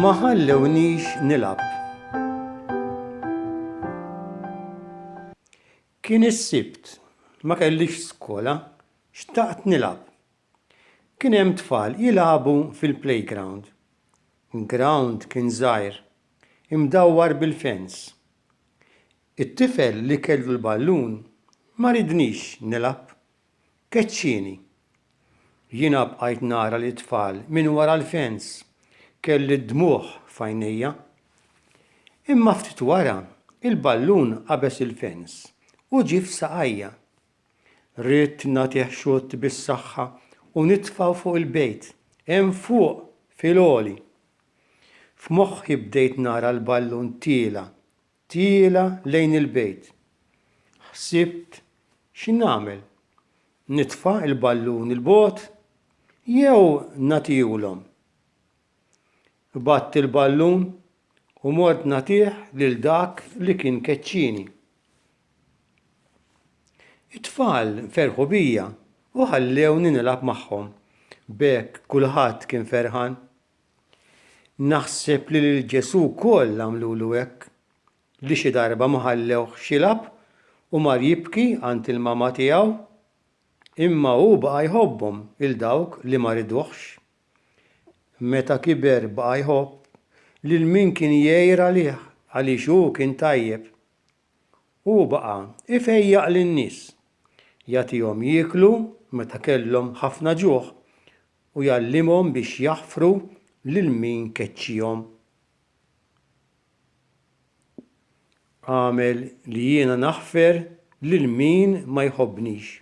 Ma ħallewniex nilab. Kien is-sibt, ma kellix skola, xtaqt nilab. Kien hemm tfal jilagħbu fil-playground. L-ground kien żgħir, imdawwar bil-fence. It-tifel li kellu l-ballun ma ridnix nilgħab. Keċċieni. Jiena bqajt nara lit-tfal minn wara l-fence, kelli d-dmugħ f'għajnejja. Imma ftit wara, il-ballun qabeż il-fence u ġie f'saqajja. Ridt nagħtih xutt bis-saħħa u nitfa' fuq il-bejt, hemm fuq fil-għoli. F'moħħi bdejt nara l-ballun tiela', tiela' lejn il-bejt. Ħsibt x'nagħmel, nitfa' l-ballun 'il bogħod jew nagħtihulhom? Qbadt il-ballun u mort nagħtih lil dak li kien keċċieni. It-tfal ferħu bija u ħallewni nilgħab magħhom. B'hekk kulħadd kien ferħan. Naħseb li lil Ġesù wkoll għamlulu hekk, li xi darba ma ħallewhx jilgħab u mar jibki għand il-mama tiegħu. Imma hu baqa' jħobbhom 'il dawk li ma riduhx. Meta kiber baqa' jħobb lil min kien jgħir għalih għaliex hu kien tajjeb. Hu baqa' jfejjaq lin-nies, jagħtihom jieklu meta kellhom ħafna ġuħ u jgħallimhom biex jaħfru lil min keċċihom. Agħmel li jiena naħfer lil min ma jħobbnix.